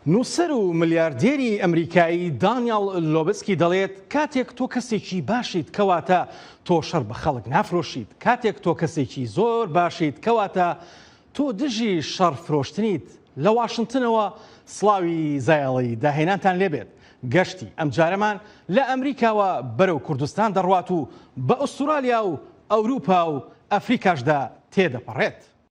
نووسەر و ملیاردێری ئەمریکایی دانیاڵ لۆبسکی دەڵێت، کاتێک تۆ کەسێکی باشیت کەواتە تۆ شەڕ بە خەڵک نافرۆشیت، کاتێک تۆ کەسێکی زۆر باشیت کەواتە تۆ دژی شەڕ فرۆشتنیت. لە واشنتنەوە سڵاوی زایەڵەی داهێنانتان لێبێت. گەشتی ئەمجارەمان لە ئەمریکاوە بەرەو کوردستان دەڕوات و بە ئوستورالیا و ئەوروپا و ئەفریکاشدا تێدەپەڕێت.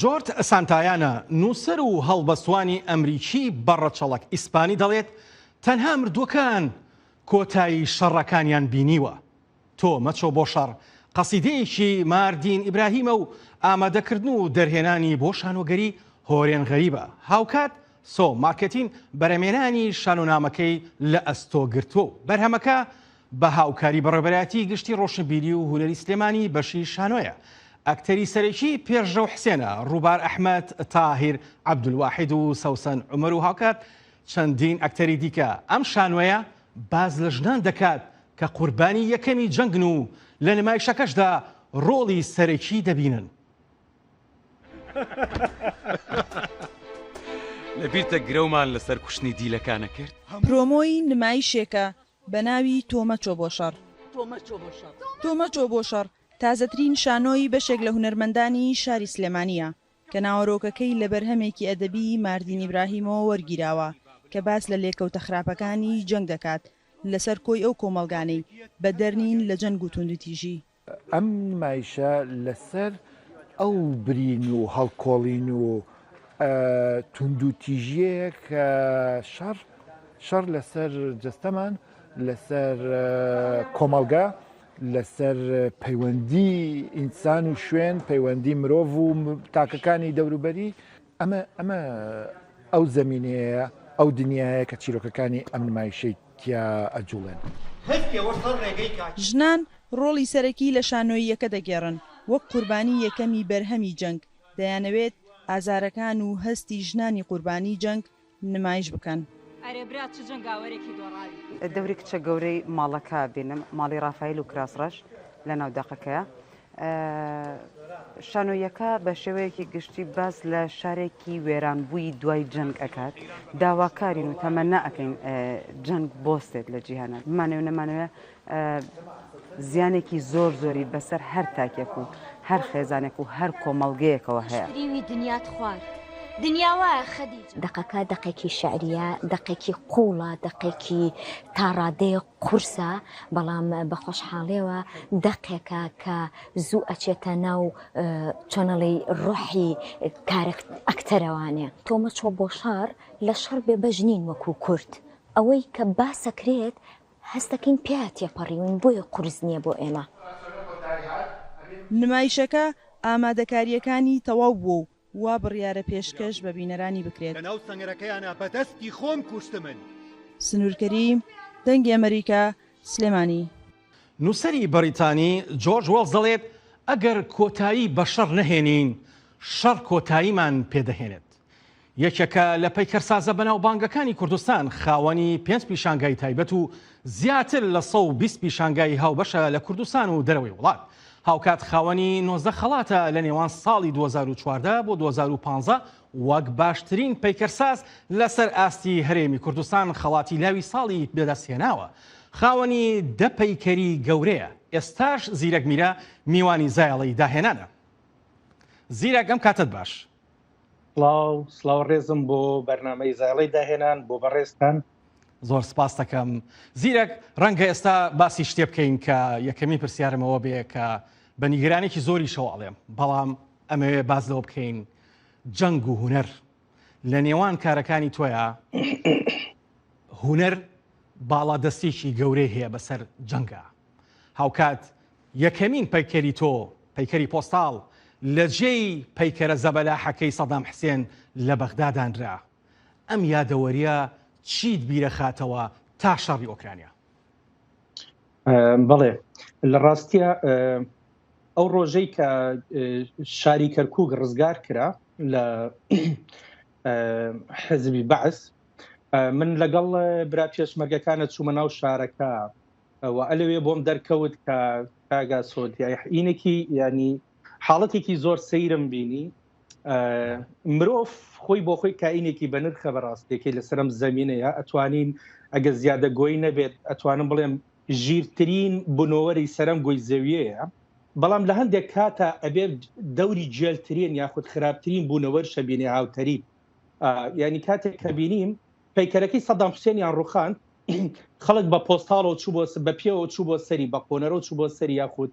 جۆرج سانتایانا، نووسەر و هەڵبەستوانی ئەمریکی بە ڕەچەڵەک ئیسپانی دەڵێت، تەنها مردووەکان کۆتایی شەڕەکانیان بینیوە. تۆ مەچۆ بۆ شەڕ، قەسیدەیەکی ماردین ئیبراهیمە و ئامادەکردن و دەرهێنانی بۆ شانۆگەری هۆرێن غەریبە، هاوکات سۆ مارکێتین بەرەمێنانی شانۆنامەکەی لە ئەستۆ گرتووە و بەرهەمەکە بە هاوکاری بەڕێوەبەرایەتیی گشتی ڕۆشنبیری و هونەری سلێمانی بەشی شانۆیە. ئەکتەری سەرەکی پێشرەو حسێنە، ڕووبار ئەحمەد، تاهیر عەبدولواحید و سەوسەن عومەر و هاوکات چەندین ئەکتەری دیکە. ئەم شانۆیە باس لە ژنان دەکات کە قوربانی یەکەمی جەنگن و لە نمایشەکەشدا ڕۆڵی سەرەکی دەبینن. لەبیرتە گرەومان لەسەر کوشتنی دیلەکانە کرد؟ پرۆمۆی نمایشێکە بە ناوی تۆ مەچۆ بۆ شەڕ. تۆ مەچۆ بۆ شەڕ تازەترین شانۆی بەشێک لە هونەرمەندانی شاری سلێمانییە کە ناوەرۆکەکەی لە بەرهەمێکی ئەدەبیی ماردین ئیبراهیمەوە وەرگیراوە کە باس لە لێکەوتە خراپەکانی جەنگ دەکات لەسەر کۆی ئەو کۆمەڵگانەی بەدەرنین لە جەنگ و توندوتیژی ئەم نمایشە لەسەر ئەو برین و هەڵکۆڵین و توندوتیژیەیە کە شەڕ شەڕ لەسەر جەستەمان لەسەر کۆمەڵگە لەسەر پەیوەندی ئینسان و شوێن پەیوەندی مرۆڤ و تاکەکانی دەوروبەری ئەمە ئەمە ئەو زەمینەیە، ئەو دنیایە کە چیرۆکەکانی ئەم نمایشەی تیا ئەجوڵێن. ژنان ڕۆڵی سەرەکی لە شانۆییەکە دەگێڕن، وەک قوربانی یەکەمی بەرهەمی جەنگ، دەیانەوێت ئازارەکان و هەستی ژنانی قوربانی جەنگ نمایش بکەن. ئەرێ برا چ جەنگاوەرێکی دۆڕاوی. دەوری کچە گەورەی ماڵەکە بینم ماڵی ڕافایل و کراس ڕەش لەناو دەقەکەیە شانۆیەکە بە شێوەیەکی گشتی باس لە شارێکی وێرانبووی دوای جەنگ ئەکات داواکارین و تەمەنا ئەەکەین جەنگ بۆستێت لە جیهانە بمانەوە نەمانەوە زیانێکی زۆر زۆری بەسەر هەر تاکێک و هەر خێزانێک و هەر کۆمەڵگەیەکەوە هەیە. دەقەکە دەقێکی شعریە دەقێکی قوڵە دەقێکی تاڕادەیە قورسە بەڵام بە خۆشحاڵێەوە دەقێکە کە زوو ئەچێتە ناو چۆنەڵی ڕۆحی کارێک ئەکتەرەوانێ تۆمە چۆ بۆ شار لە شەڕ بێ بەژنین وەکو کورد ئەوەی کە باسەکرێت هەست دەکەین پیا تێپەڕیوین بۆیە قورس نیە بۆ ئێمە. نمایشەکە ئامادەکارییەکانی تەواو بووە و وا بڕیارە پێشکەش بە بینەرانی بکرێت. سنور کەریم، دەنگی ئەمەریکا، سلێمانی. نووسەری بەریتانی جۆرج وێڵز دەڵێت، ئەگەر کۆتایی بە شەڕ نەهێنین، شەڕ کۆتاییمان پێدەهێنێت. یەکێکە لە پەیکەرسازە بەناوبانگەکانی کوردستان، خاوەنی پێنج پیشانگای تایبەت و زیاتر لە سەد و بیست پیشانگای هاوبەشە لە کوردستان و دەرەوەی وڵات، هاوکات خاوەنی نۆزدە خەڵاتە لە نێوان ساڵی دوو هەزار و چواردە بۆ دوو هەزار و پازدە وەک باشترین پەیکەرساز لەسەر ئاستی هەرێمی کوردستان خەڵاتی لاوی ساڵی بەدەستهێناوە، خاوەنی دە پەیکەری گەورەیە، ئێستاش زیرەک میرە میوانی زایەڵەی داهێنانە. زیرەک ئەم کاتەت باش. سڵاو سڵاو ڕێزم بۆ بەرنمەی زایڵی داهێنان بۆ بەڕێزتان زۆر سپاس دەکەم زیرەک ڕەنگە ئێستا باسی شتێ بکەین کە یەکەمی پرسیارمەوە بێ کە بە نیگرانێکی زۆری شەواڵێم بەڵام ئەمەوێ باز لەوە بکەین جەنگ و هوەر لە نێوان کارەکانی تۆیا هوەر باڵا دەستێکی گەورەی هەیە بەسەر جەنگە هاوکات یەکەمین پەیکەری تۆ، پەیکەری پۆستاڵ، لە جێی پەیکەرە زەبەلاحەکەی سەدام حسێن لە بەغدا دانرا. ئەم یادەوەرییە چیت بیرەخاتەوە تا شەڕی ئۆکرانیا؟ بەڵێ، لە ڕاستیا ئەو ڕۆژەی کە شاری کەرکووک ڕزگار کرا لە حزبی بەعس، من لەگەڵ برا پێشمەرگەکانە چوومە ناو شارەکە، و ئەلەوێ بۆم دەرکەوت کە کاگا سۆدیای حینێکی ینی حاڵەتێکی زۆر سەیرم بینی مرۆڤ خۆی بۆ خۆی کائینێکی بەنرخە بەڕاستێکی لە سرم زمینەیە ئەتوانین ئەگە زیادە گۆی نەبێت ئەتوانم بڵێم ژیرترین بنۆوەری سەرم گۆی زەویەیە بەڵام لە هەندێک کاتە ئەبێت دەوری جێلترین یاخود خراپترین بوونەوەر شەبینێ هاوتەریب ینی کاتێک کە بینیم پەیکەرەکەی سەدام حوسێنیان ڕوخان خەڵک بە پۆستاڵەوە چوو بۆ بە پێوە چوو بۆ سەری بە قۆنەرەوە چوو بۆ سەری یاخود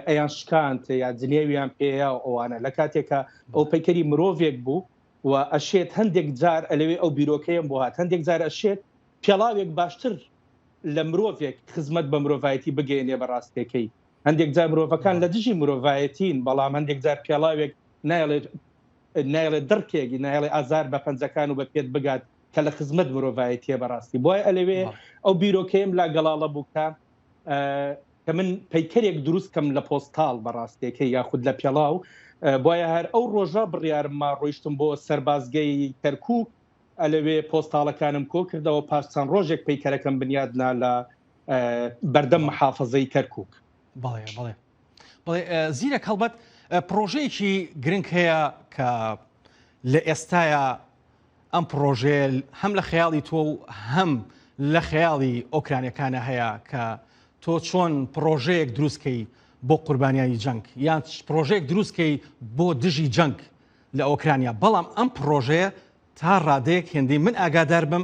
ئەیان شکانت یا جلێویان پێەیە ئەوانە لە کاتێکە ئەو پەیکەری مرۆڤێک بوو و ئەشێت هەندێک جار ئەلەوێ ئەو بیرۆکەیەم بۆ هات هەندێک جار ئەشێت پێڵاوێک باشتر لە مرۆڤێک خزمەت بە مرۆڤایەتی بگەێنێ بە ڕاستەکەی هەندێک جار مرۆڤەکان لە دژی مرۆڤایەتین بەڵام هەندێک جار پێڵاوێک نایڵێت نایڵێت دڕکێکی نایڵێ ئازار بە پەنجەکان و بە پێت بگات کە لە خزمەت مرۆڤایەتیە بەڕاستی بۆی ئەلەوێ ئەو بیرۆکەیەم لا گەڵاڵە بوو کە کە من پەیکەرێک دروست کەم لە پۆستال بەڕاستێکە یاخود لە پێڵاو بۆیە هەر ئەو ڕۆژە بڕیارمما ڕۆیشتم بۆ سەربازگەی کەرکک ئەلەوێ پۆستاڵەکانم کۆ کردەوە پاش چەند ڕۆژێک پەیکەرەکەم بنیادنا لە بەردەم محافظەی کەرکک بەڵێ بەڵێ زیرەک هەڵبەت پرۆژەیەکی گرنگ هەیە کە لە ئێستاە ئەم پرۆژێل هەم لە خەیاڵی تۆ و هەم لە خەیاڵی ئۆکرانەکانە هەیە کە تۆ چۆن پرۆژەیەک دروستکەی بۆ قوربانیانی جەنگ یان پرۆژێک دروستکەی بۆ دژی جەنگ لە ئۆکرانیا بەڵام ئەم پرۆژەیە تا ڕادەیەک هێندەی من ئاگادار بم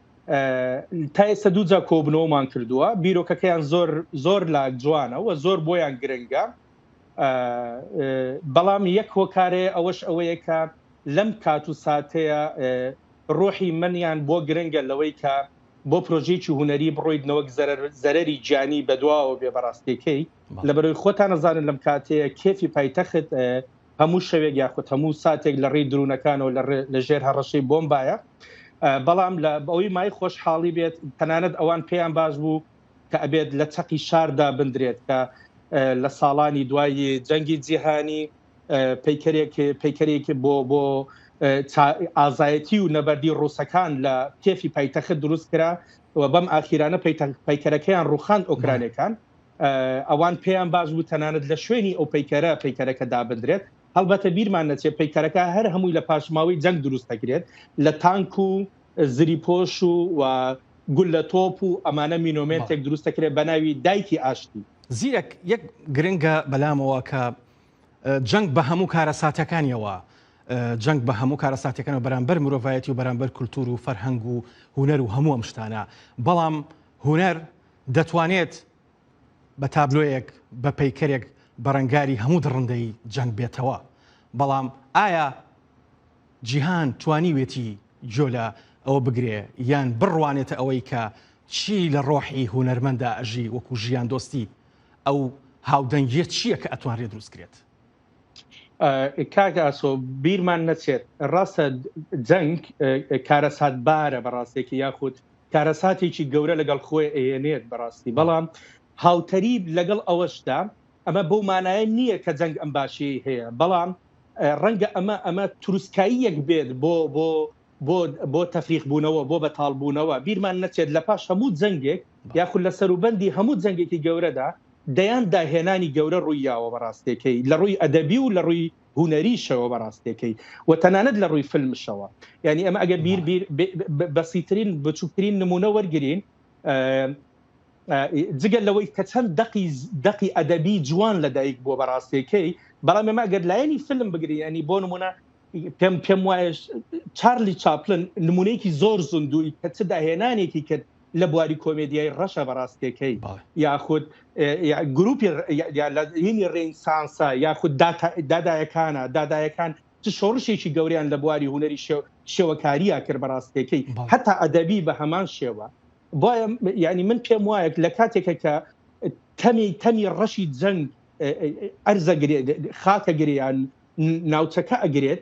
تا ئێستا دووجا کۆبنەوەمان کردووە بیرۆکەکەیان زۆر زۆر لا جوانە و زۆر بۆیان گرنگە بەڵام یەک هۆکارێ ئەوەش ئەوەیە کە لەم کات و ساتەیە ڕۆحی منیان بۆ گرنگە لەوەی کە بۆ پرۆژێکی هوەری بڕۆیت نەوەک زەرری گیانی بەدواوە بێ بەڕاستەکەی لە بەرەوەی خۆتان نەزانن لەم کاتەیە کێفی پایتەخت هەموو شەوێک یاخود هەموو ساتێک لە ڕێی درونەکانەوە لە ژێر هەڕەشەی بۆمبایە بەڵام لە بەوەی مای خۆشحاڵی بێت تەنانەت ئەوان پێیان باش بوو کە ئەبێت لە چەقی شاردا بندرێت کە لە ساڵانی دوایی جەنگی جیهانی پیکەرێک پیکەرێک بۆ بۆ ئازایەتی و نەبەردی ڕووسەکان لە کێفی پایتەخت دروست کرا و بەم ئاخیرانە پیکەرەکەیان ڕوخان ئۆکرانەکان ئەوان پێیان باش بوو تەنانەت لە شوێنی ئەو پەیکەرە پەیکەرەکە دابدرێت هەڵبەتە بیرمان نەچێت پەیکەرەکە هەر هەمووی لە پاشماوەی جەنگ دروست دەکرێت لە تانک و زری پۆش و و گول لە تۆپ و ئەمانە مینۆمنتێک دروست دەکرێت بە ناوی دایکی ئاشتی زیرەک یەک گرنگە بەلامەوە کە جەنگ بە هەموو کارە ساتەکانیەوە جەنگ بە هەموو کارەساتەکەەوە بەرامبەر مرۆڤایەتی و بەرامبەر کولتور و فەرهەنگ و هوەر و هەموو ئەم شتانە بەڵام هوەر دەتوانێت بە تابلۆیەک، بە پەیکەرێک بەرەنگاری هەموو دڕندەیی جەنگ بێتەوە، بەڵام ئایا جیهان توانیوێتی گوێ لە ئەوە بگرێ یان بڕوانێتە ئەوەی کە چی لە ڕۆحی هونەرمەندا ئەژی وەکوو ژیاندۆستی، ئەو هاودەنگییە چییە کە ئەتوانرێ دروست کرێت؟ کاک ئاسۆ بیرمان نەچێت ڕاستە جەنگ کارەساتبارە بە ڕاستێکی یاخود کارەساتێکی گەورە لەگەڵ خۆی ئەیەنێت بەڕاستی بەڵام هاوتەری لەگەڵ ئەوەشدا ئەمە بەو مانایە نییە کە جەنگ ئەم باشی هەیە بەڵام ڕەنگە ئەمە ئەمە تروسکایی یەک بێت بۆ بۆ بۆ بۆ تەفریق بوونەوە بۆ بەتاڵ بوونەوە بیرمان نەچێت لە پاش هەموو جەنگێک یاخود لە سەروبەندی هەموو جەنگێکی گەورەدا دەیان داهێنانی گەورە ڕوویاوە بەڕاستێکەی لە ڕووی ئەدەبی و لە ڕووی هونەریشەوە بەڕاستێکەی و تەنانەت لە ڕووی فلمشەوە ینی ئەمە ئەگە بیر بیر بەسیترین بچووکترین نمونە وەرگین جگە لەوەی کە چەند دقی دقی ئەدەبی جوان لەدایک بووە بەڕاستێکەی بەڵام ئێمە گەر لایەنی فلم بگری ینی بۆ نمونە پێم پێم وایش چارلی چاپلن نمونەیەکی زۆر زندوی کە چ داهێنانێکی کرد لە بواری کۆمێدیای ڕەشە بەڕاستێکەی یاخود گروپی یینی ڕینسانسە یاخود دادایەکانە دادایەکان چ شۆڕشێکی گەوریان لە بواری هوەری شێوەکاریە کرد بەڕاستێکەی هەتا ئەدەبی بە هەمان شێوە بۆیە ینی من پێم وایە لە کاتێکە کە تەمی تەمی ڕەشی جەنگ ئەرزە خاکە گریان ناوچەکە ئەگرێت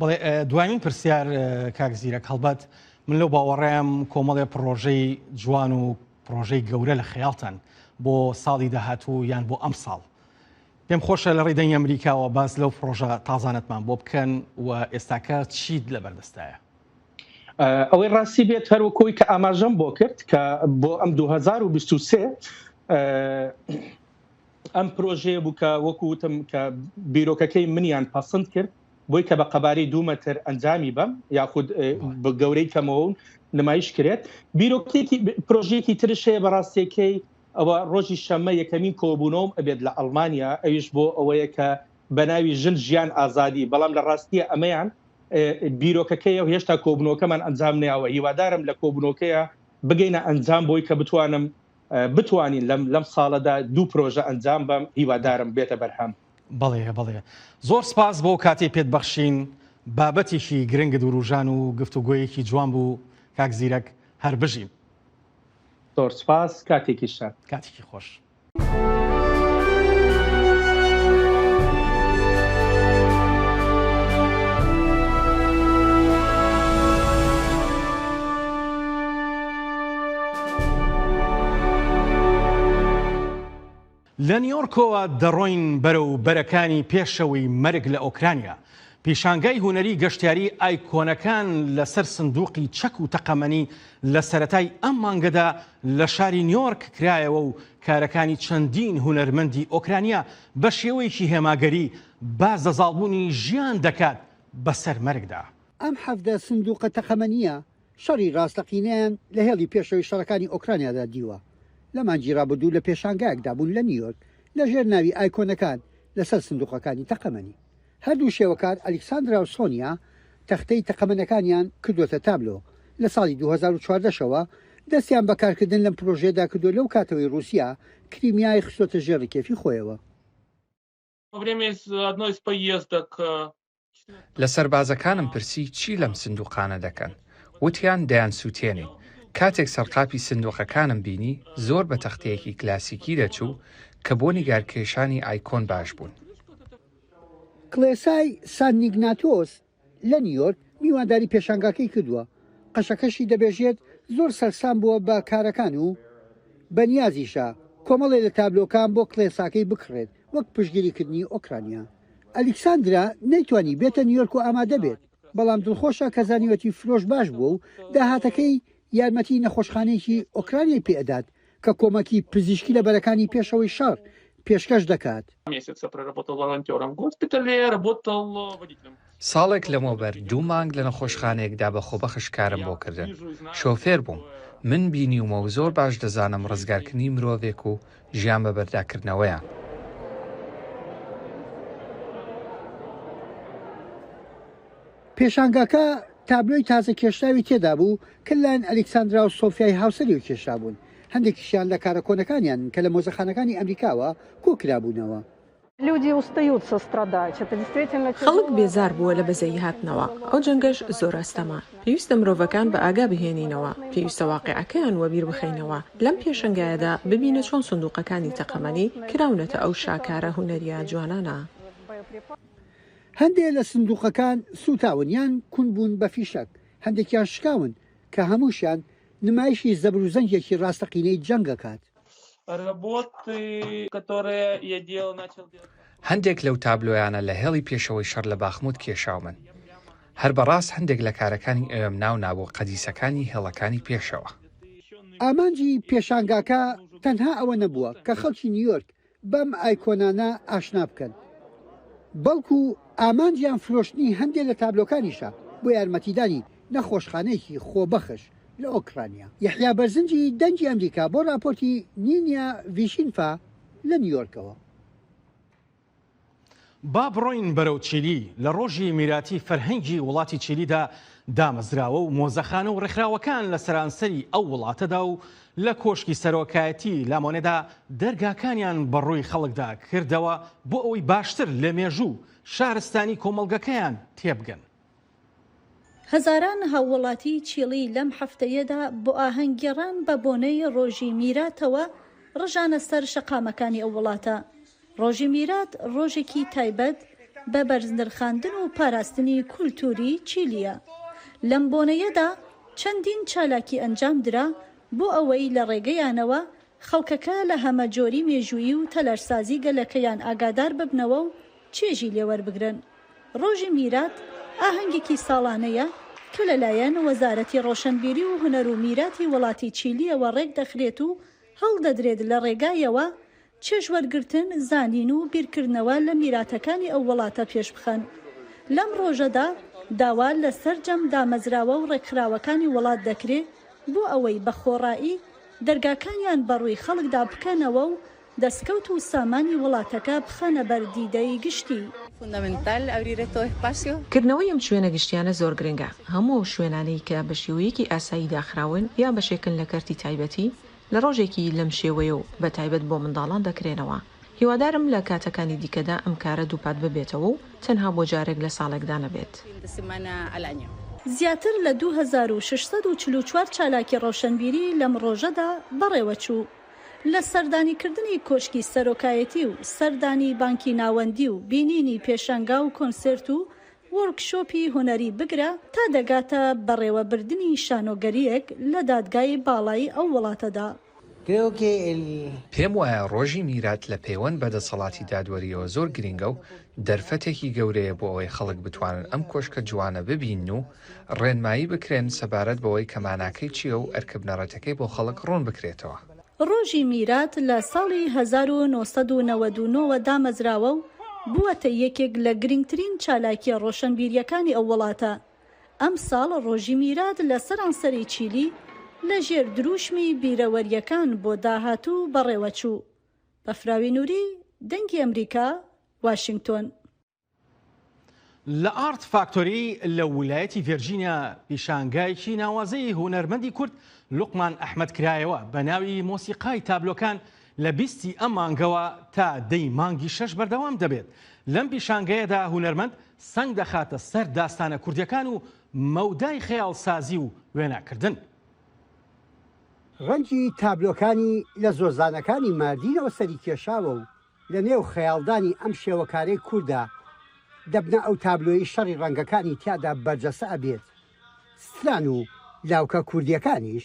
بڵێ دوایین پرسیار کاک زیرەک هەڵبەت من لەو باوەڕێم کۆمەڵێ پرۆژەی جوان و پرۆژەی گەورە لە خەیاڵتان بۆ ساڵی داهاتوو یان بۆ ئەم ساڵ پێم خۆشە لە ڕیدەنگ ئەمریکاوە باس لەو پرۆژە تازانەتمان بۆ بکەن و ئێستاکە چیت لە بەردەستایە ئەوەی ڕاستی بێت هەروکۆی کە ئاماژەم بۆ کرد کە بۆ ئەم 2023 ئەم پرۆژەیە بوو کە وەکو وتم کە بیرۆکەکەی منیان پەسند کرد بۆی کە بە قەبارەی دوومەتر ئەنجامی بەم یاخود بە گەورەی کەمەوەون نمایش کرێت بیرۆکتێکی پرۆژێکی ترشەیە بەڕاستێکەی ئەوە ڕۆژی شەمە یەکەمین کۆبوونەوەم ئەبێت لە ئەلمانیا ئەویش بۆ ئەوەیە کە بەناوی ژن ژیان ئازادی بەڵام لە ڕاستیە ئەمەیان بیرۆکەکەی و هێشتا کۆبنەوەکەمان ئەنجام نیاوە هیوادارم لە کۆبنەوەکەیە بگەینە ئەنجام بۆی کە بتوانم بتوانین لەم لەم ساڵەدا دوو پرۆژە ئەنجام بەم هیوادارم بێتە بەرهەم. بەڵێ بەڵێ زۆر سپاس بۆ کاتی پێت بەخشین بابەتێکی گرنگت وروژان و گفتوگۆیەکی جوان بوو کاک زیرەک هەر بژین. زۆر سپاس کاتێکی شە کاتێکی خۆش. لە نیۆرکۆوە دەڕۆین بەرەو بەرەکانی پێشەوەی مەرگ لە ئۆکرانیا. پیشانگای هونەری گەشتیاری ئایکۆنەکان لەسەر سندوقی چەک و تەقەمەنی لە سەرەتای ئەم مانگەدا لە شاری نیۆرک کرایەوە و کارەکانی چەندین هونەرمەندی ئۆکرانیا بە شێوەیەکی هێماگەری باس لە زاڵبوونی ژیان دەکات بەسەر مەرگدا. ئەم حەڤدە سندوقە تەقەمەنییە شەڕی ڕاستەقینەیان لە هێڵی پێشەوەی شەڕەکانی ئۆکرانیادا دیوە. لە مانگی ڕابردوو لە پێشانگایەکدا بوون لە نیویۆرک لەژێر ناوی ئایکۆنەکان لەسەر سندووقەکانی تەقەمەنی. هەردوو شێوەکار ئەلیکساندرا و سۆنیا تەختەی تەقەمەنەکانیان کردووەتە تابلۆ. لە ساڵی دوو هەزار و چواردە شەوە دەستیان بە کارکردن لەم پرۆژەیەدا کردووە لەو کاتەوەی ڕووسیا کریمیای خستووەتە ژێر ڕکێفی خۆیەوە. لە سەربازەکانم پرسی چی لەم سندووقانە دەکەن، وتیان دەیان سووتێنین. کاتێک سەرقاپی سندووقەکانم بینی، زۆر بە تەختەیەکی کلاسیکی دەچوو کە بۆ نیگارکێشانی ئایکۆن باش بوون. کڵێسای سانت نیگناتۆس لە نیویۆرک میوانداری پێشانگاکەی کردووە، قەشەکەشی دەبێژێت زۆر سەرسام بووە بە کارەکان و بە نیازیشە کۆمەڵێ لە تابلۆکان بۆ کڵێساکەی بکڕێت وەک پشتگیریکردنی ئۆکرانیا. ئەلیکساندرا نەیتوانی بێتە نیویۆرک و ئامادە بێت، بەڵام دڵخۆشە کە زانیوەتی فرۆش باش بووە و داهاتەکەی یارمەتی نەخۆشخانەیەکی ئۆکرانیای پێ ئەدات کە کۆمەکی پزیشکی لە بەرەکانی پێشەوەی شەڕ پێشکەش دەکات. ساڵێک لەمەوبەر دوو مانگ لە نەخۆشخانەیەکدا بە خۆبەخش کارم بۆ کردن، شۆفێر بووم، من بینیومە و زۆر باش دەزانم ڕزگارکردنی مرۆڤێک و ژیان بە بەرداکردنەوەیان. پێشانگاکە تابلۆی تازەکێشراوی تێدابوو کە لەلایەن ئەلیکساندرا و سۆفیای هاوسەریەوە کێشرابوون، هەندێکیشیان لە کارە کۆنەکانیان کە لە مۆزەخانەکانی ئەمریکاوە کۆکرابوونەوە. خەڵک بێزار بووە لە بەزەیی هاتنەوە، ئەو جەنگەش زۆر ئەستەمە. پێویستە مرۆڤەکان بە ئاگا بهێنینەوە، پێویستە واقیعەکەیان وەبیر بخەینەوە، لەم پێشەنگایەدا ببینە چۆن سندووقەکانی تەقەمەنی کراونەتە ئەو شاکارە هونەرییە جوانانە. هەندێک لە سندووقەکان سووتاون یان کون بوون بە فیشەک، هەندێکیان شکاون کە هەمووشیان نمایشی زەبر و زەنگێکی ڕاستەقینەی جەنگ ئەکات. هەندێک لەو تابلۆیانە لە هێڵی پێشەوەی شەڕ لە باخموت کێشاومن. هەر بەڕاست هەندێک لە کارەکانی ئەوێم ناو نابوو قەدیسەکانی هێڵەکانی پێشەوە. ئامانجی پێشانگاکە تەنها ئەوە نەبووە کە خەڵکی نیویۆرک بەم ئایکۆنانە ئاشنا بکەن بەڵکو ئامانجیان فرۆشتنی هەندێ لە تابلۆکانیشە بۆ یارمەتیدانی نەخۆشخانەیەکی خۆبەخش لە ئۆکرانیا. یەحیا بەرزنجی دەنگی ئەمریکا بۆ راپۆرتی نینیا ڤیشینفا لە نیویۆرکەوە. با بڕۆین بەرەو چیلی، لە ڕۆژی میراتی فەرهەنگی وڵاتی چیلیدا دامەزراوە و مۆزەخانە و ڕێکخراوەکان لە سەرانسەری ئەو وڵاتەدا و لە کۆشکی سەرۆکایەتی لامۆنێدا دەرگاکانیان بە ڕووی خەڵکدا کردەوە بۆ ئەوەی باشتر لە مێژوو و شارستانی کۆمەڵگەکەیان تێبگەن. هەزاران هاووڵاتیی چیڵی لەم هەفتەیەدا بۆ ئاهەنگگێڕان بە بۆنەی ڕۆژی میراتەوە ڕژانە سەر شەقامەکانی ئەو وڵاتە. ڕۆژی میرات ڕۆژێکی تایبەت بە بەرزنرخاندن و پاراستنی کولتووری چیلییە. لەم بۆنەیەدا چەندین چالاکی ئەنجام درا بۆ ئەوەی لە ڕێگەیانەوە خەڵکەکە لە هەمەجۆری مێژوویی و تەلارسازی گەلەکەیان ئاگادار ببنەوە و چێژی لێ وەربگرن. ڕۆژی میرات ئاهەنگێکی ساڵانەیە کە لەلایەن وەزارەتی ڕۆشەنبیری و هونەر و میراتی وڵاتی چیلییەوە ڕێکدەخرێت و هەڵدەدرێت لە ڕێگایەوە چێژ وەرگرتن، زانین و بیرکردنەوە لە میراتەکانی ئەو وڵاتە پێشبخەن. لەم ڕۆژەدا داوا لە سەرجەم دامەزراوە و ڕێکخراوەکانی وڵات دەکرێ بۆ ئەوەی بە خۆڕایی، دەرگاکانیان بەڕووی خەڵکدا بکەنەوە و دەستکەوت و سامانی وڵاتەکە بخەنە بەر دیدەی گشتی. کردنەوەی ئەم شوێنە گشتیانە زۆر گرنگە، هەموو ئەو شوێنانەی کە بە شێوەیەکی ئاسایی داخراون یا بەشێکن لە کەرتی تایبەتی، لە ڕۆژێکی لەم شێوەیە و بەتایبەت بۆ منداڵان دەکرێنەوە، هیوادارم لە کاتەکانی دیکەدا ئەم کارە دووپات ببێتەوە و تەنها بۆ جارێک لە ساڵێکدا نەبێت. زیاتر لە دوو هەزار و شەش سەد و چل و چوار چالاکی ڕەوشەنبیری لەم ڕۆژەدا بەڕێوەچوو. لە سەردانیکردنی کۆشکی سەرۆکایەتی و سەردانی بانکی ناوەندی و بینینی پێشانگا و کۆنسێرت و وۆرک شۆپی هونەری بگرە تا دەگاتە بەڕێوەبردنی شانۆگەرییەک لە دادگای باڵای ئەو وڵاتەدا. کرێو کێ ئێلی. پێم وایە ڕۆژی میرات لە پێوەند بە دەسەڵاتی دادوەرییەوە زۆر گرینگە و دەرفەتێکی گەورەیە بۆ ئەوەی خەڵک بتوانن ئەم کۆشکە جوانە ببینن و ڕێنمایی بکرێن سەبارەت بەوەی کە ماناکەی چییە و ئەرکە بنەڕەتەکەی بۆ خەڵک ڕوون بکرێتەوە. ڕۆژی میرات لە ساڵی هەزار و نۆ سەد و نەوەد و نۆ وە دامەزراوە و بووەتە یەکێک لە گرینگترین چالاکییە ڕۆشەنبیرییەکانی ئەو وڵاتە. ئەمساڵ ڕۆژی میرات لە سەرانسەری چیلی لە ژێر درووشمی بیرەوەرییەکان بۆ داهاتوو بەڕێوەچوو. بەفراوی نوری، دەنگی ئەمریکا، واشینگتۆن. لە ئارت فاکتۆری لە ولایەتی ڤێرجینیا پیشانگایەکی ناوازەی هونەرمەندی کورد لوقمان ئەحمەد کرایەوە بە ناوی مۆسیقای تابلۆکان لە بیستی ئەم مانگەوە تا دەی مانگی شەش بەردەوام دەبێت لەم پیشانگەیەدا هونەرمەند سەنگ دەخاتە سەر داستانە کوردیەکان و مەودای خەیاڵ سازی و وێنا کردن. ڕەنگی تابلۆکانی لە زۆزانەکانی ماردینەوە سەری کێشاوە و لە نێو خەیاڵدانی ئەم شێوەکارەی کوردە دەبنە ئەو تابلۆی شەڕی ڕەنگەکانی تیادا بەرجەسە ئەبێت ستران و لاوکە کوردیەکانیش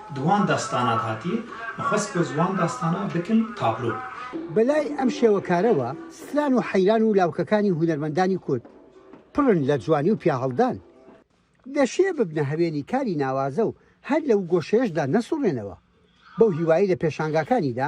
دوان داستانات هاتی مەخوەست کۆ زوان داستانا بکن تابلۆ. بەلای ئەم شێوەکارەوە ستران و حەیران و لاوکەکانی هونەرمەندانی کورد پڕن لە جوانی و پیاهەڵدان. دەشێ ببنە هەوێنی کاری ناوازە و هەر لەو گۆشەیەشدا نەسوڕێنەوە. بەو هیوایەی لە پێشانگاکانیدا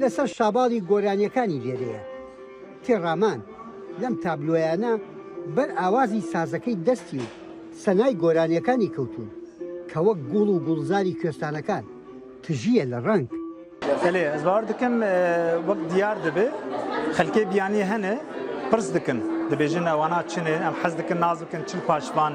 لەسەر شاباڵی گۆرانیەکانی لێرەیە تێڕامان لەم تابلۆیانە بەر ئاوازی سازەکەی دەستی و سەنای گۆرانیەکانی کەوتوون کە وەک گوڵ و گوڵزاری کوێستانەکان تژییە لە ڕەنگ. بەلێ هەزباوەر دکن وەک دیار دبێ خەلکێ بیانیێ هەنێ پرس دکن دبێژن ئەوانە چنێ ئەم حەز دکن ناز بکن چل پاشڤان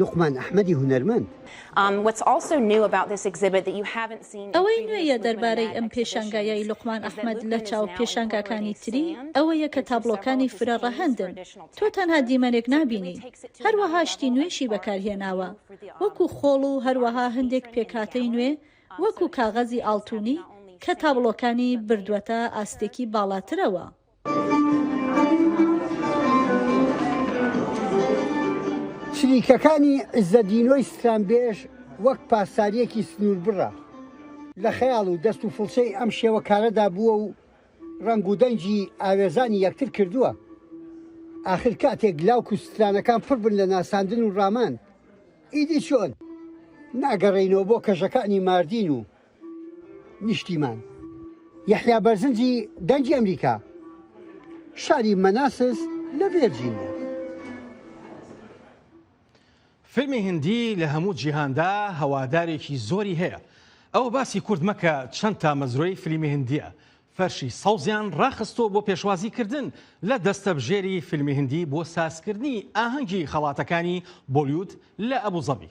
لوقمان ئەحمەدی هونەرمەند. ئەوەی نوێیە دەربارەی ئەم پێشانگایەی لوقمان ئەحمەد لە چاو پێشانگاکانی تری ئەوەیە کە تابڵۆکانی فرە ڕەهەندن، تۆ تەنها دیمەنێک نابینی، هەروەها شتی نوێشی بەکارهێناوە وەکو خۆڵ و هەروەها هەندێک پێکهاتەی نوێ وەکو کاغەزی ئاڵتونی کە تابڵۆکانی بردوەتە ئاستێکی باڵاترەوە. چریکەکانی عیزەدینۆی سترانبێژ وەک پاسدارییەکی سنووربڕە لە خەیاڵ و دەست و فڵچەی ئەم شێوەکارەدا بووە و ڕنگ و دەنگی ئاوێزانی یەکتر کردووە ئاخر کاتێک لاوک و سترانەکان پڕبن لە ناساندن و ڕامان ئیدی چۆن ناگەڕێینەوە بۆ کەژەکانی ماردین و نیشتیمان. یەحیا بەرزنجی دەنگی ئەمریکا، شاری مەناسس لە ڤێرجینیا. فیلمی هندی لە هەموو جیهاندا هەوادارێکی زۆری هەیە. ئەوە باسی کورد مەکە چەند تامەزرۆی فلیمی هندیە فەرشی سەوزیان ڕاخستۆ بۆ پێشوازی کردن لە دەستەبژێری فیلمی هندی بۆ سازکردنی ئاهەنگی خەڵاتەکانی بۆلیود لە ئەبوزەبی.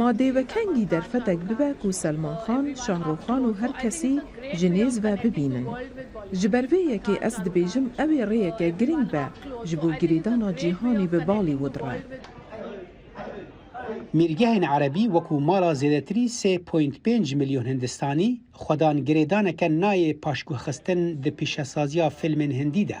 ما دێوەکەنگی دەرفەتەک ببە کو سەلمان خان، شاهڕوخ خان و هەر کەسی ژ نێز ڤە ببینن. ژ بەر ڤێ یەکێ ئەز دبێژم ئەوێ ڕێیەکە گرنگ بە ژ بۆ گرێدانا جیهانی ڤە باڵیوود ڕە. میرگهێن عەرەبی وەکوو ماڵا زێدەتری سێ پۆینت پێنج ملیۆن هندستانی خوەدان گرێدانەکە نایێ پاشگوهخستن د پیشەسازیا فیلمێن هندی دە،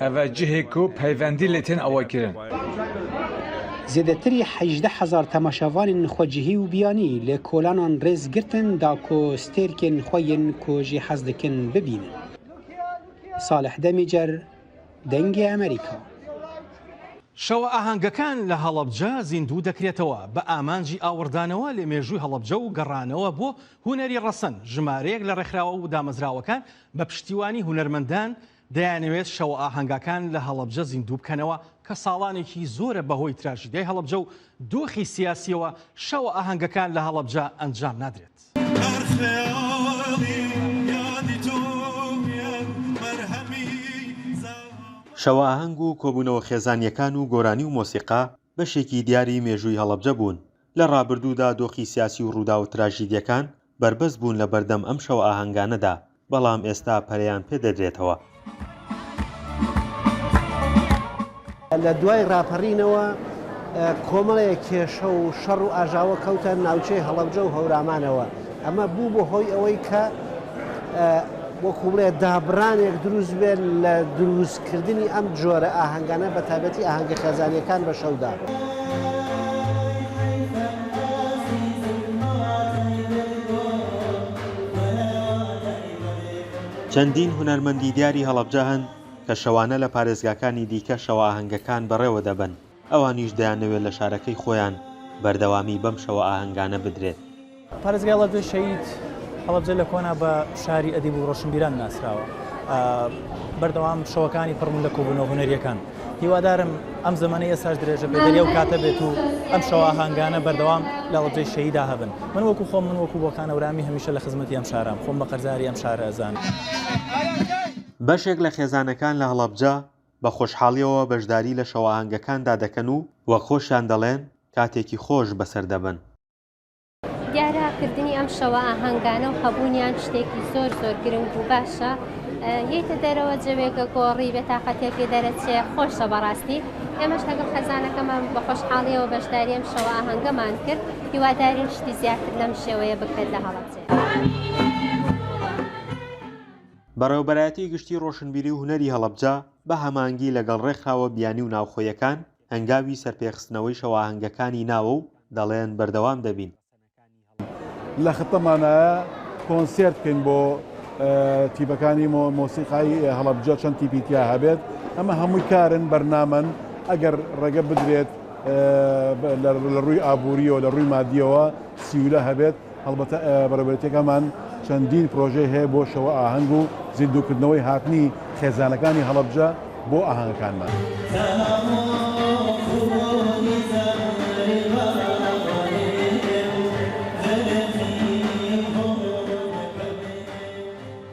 ئەڤە جهێ کو پەیڤەندی لەتێن ئەوە کرن. زێدەتری هەژدە هەزار تەماشاڤانێن خوە جهی و بیانی لە کۆلانان رێز گرتن داکۆ ستێرکێن خوە یەن کو جی حەز دکن ببینن. ساڵح دەمیجەر، دەنگ ئەمەریکا. شەوە ئاهەنگەکان لە هەڵەبجە زیندوو دەکرێتەوە بە ئامانجی ئاوڕدانەوە لە مێژووی هەڵەبجە و گەڕانەوە بۆ هونەری ڕەسەن، ژمارەیەک لە ڕێکخراوە و دامەزراوەکان بە پشتیوانی هونەرمەندان، دەیانەوێت شەوە ئاهەنگاکان لە هەڵەبجە زیندوو بکەنەوە کە ساڵانێکی زۆرە بەهۆی تراژیدیای هەڵەبجە و دۆخی سیاسیەوە شەوە ئاهەنگەکان لە هەڵەبجە ئەنجام نادرێت. شەوە ئاهەنگ و کۆبوونەوە خێزانیەکان و گۆرانی و مۆسیقا بەشێکی دیاری مێژووی هەڵەبجە بوون، لە ڕابردوودا دۆخی سیاسی و ڕووداوە تراژیدیەکان بەربەست بوون لە بەردەم ئەم شەو ئاهەنگانەدا، بەڵام ئێستا پەرەیان پێ دەدرێتەوە. لە دوای ڕاپەڕینەوە کۆمەڵێک کێشە و شەڕ و ئاژاوە کەوتە ناوچەی هەڵەبجە و هەورامانەوە، ئەمە بوو بە هۆی ئەوەی کە وەکوو بڵێ دابڕانێک دروست بێت لە دروست کردنی ئەم جۆرە ئاهەنگانە بە تایبەتی ئاهەنگە خێزانیەکان بە شەودا. چەندین هونەرمەندی دیاری هەڵەبجە هەن کە شەوانە لە پارێزگاکانی دیکە شەوە ئاهەنگەکان بەڕێوە دەبەن. ئەوانیش دەیانەوێت لە شارەکەی خۆیان بەردەوامی بەم شەوە ئاهەنگانە بدرێت. پارێزگای هەڵەبجە شەهید هەڵەبجە لە کۆنا بە شاری ئەدیب و ڕۆشنبیران ناسراوە. بەردەوام شەوەکانی پڕبوون لە کۆبوونەوە هونەریەکان. هیوادارم ئەم زەمەنەی ئێستاش درێژە بێت دەری ئەو کاتە بێت و ئەم شەوە ئاهەنگانە بەردەوام لە هەڵەبجەی شەهیدا هەبن. من وەکو خۆم من وەکو بۆکان هەورامی هەمیشە لە خزمەتی ئەم شارەم، خۆم بە قەرزاری ئەم شارە ئەزانم. بەشێک لە خێزانەکان لە هەڵەبجە بە خۆشحاڵییەوە بەشداری لە شەوئاهەنگەکاندا دەکەن و وەک خۆشیان دەڵێن، کاتێکی خۆش بەسەر دەبەن. دیارە کردنی ئەم شەوئاهەنگانە و هەبوونیان شتێکی زۆر زۆر گرنگ و باشە. یەیتە دەرەوە جەوێکە گۆڕی، بێتاقەتییەک لێ دەرەچێ، خۆشە بەڕاستی. ئێمەش لەگەڵ خێزانەکەمان بە خۆشحاڵییەوە بەشداری ئەم شەوئاهەنگەمان کرد. هیوادارین شتی زیاتر لەم شێوەیە بکرێت لە هەڵەبجەیە. بەڕێوەبەرایەتی گشتی ڕۆشنبیری و هونەری هەڵەبجە بە هەمانگی لەگەڵ ڕێکخراوە بیانی و ناوخۆیەکان هەنگاوی سەرپێخستنەوەی شەوئاهەنگەکانی ناوە و دەڵێن بەردەوام دەبین. لە خطەمانایە کۆنسێرت بکەین بۆ تیپەکانی مۆسیقای هەڵەبجە چەند تیپی تیا هەبێت ئەمە هەمووی کارن بەرنامەن ئەگەر ڕێگە بدرێت لە ڕووی ئابووریەوە لە ڕووی مادیەوە سیولە هەبێت هەڵبەتە بەڕێوەبەرێتییەکەمان چەندین پرۆژەی هەیە بۆ شەوە ئاهەنگ و زیندووکردنەوەی هاتنی خێزانەکانی هەڵەبجە بۆ ئاهەنگەکانمان.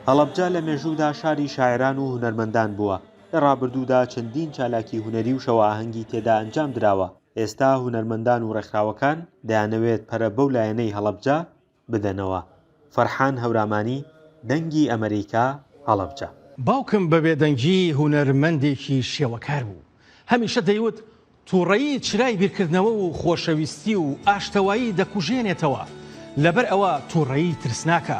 هەڵەبجە لە مێژوودا شاری شاعێران و هونەرمەندان بووە، لە ڕابردوودا چەندین چالاکی هونەری و شەوە ئاهەنگی تێدا ئەنجام دراوە، ئێستا هونەرمەندان و ڕێکخراوەکان دەیانەوێت پەرە بەو لایەنەی هەڵەبجە بدەنەوە، فەرحان هەورامانی، دەنگی ئەمەریکا، هەڵەبجە. باوکم بە بێدەنگی هونەرمەندێکی شێوەکار بوو. هەمیشە دەیوت، تووڕەیی چرای بیرکردنەوە و خۆشەویستی و ئاشتەوایی دەکوژێنێتەوە، لەبەر ئەوە تووڕەیی ترسناکە.